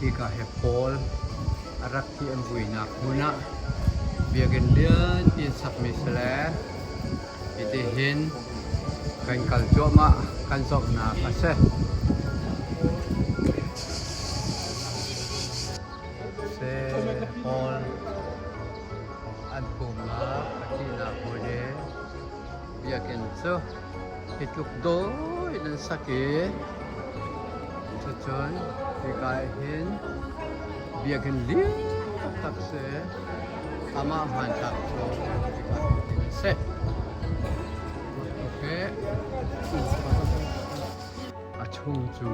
Hika hi Paul a rak ti an vuinak hmun ah biakinn lianpi an sakmi si le hitihin kan kal cuahmah kan zohnak a si. Seh hngawr an pumnak pahnihnak hawile biakinn cu hi tluk dawi in an sak i cucun hika ah hin biakinn lian taktak si amah hmanthlak cu hika ah hin a si. Okay. A chung cu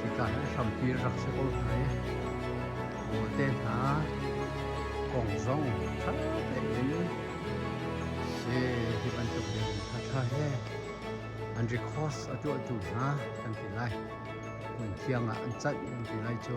Hika hi hrampi rak si ko lai. Kawlte hna kong zong ṭha tein si hi bantuk in thatha he an recourse a tuahtu hna kan ti lai. Hmun thiang ah an canh an ti lai cu.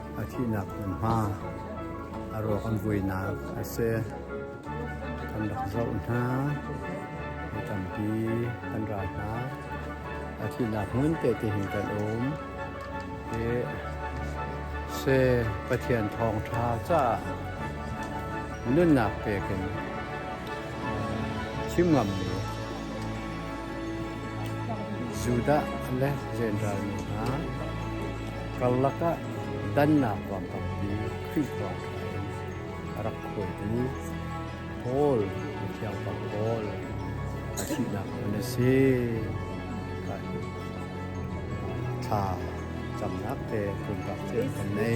a thihnak hmunhma a ruak an vuinak a si. Kan rak zoh hna, kan tampi kan ra hna. A thihnak hmun te te hin kan um. Hi se Pathian thawngtha caah nunnak pekin chim ngammi Judah le Zendral mi hna karlak ah dannak ruam tampi Khrihfa hna in a rak khuai i Paul, thiangpang Paul, a thihnak hmun a si. Thla camnak te pumpak cio kan nei.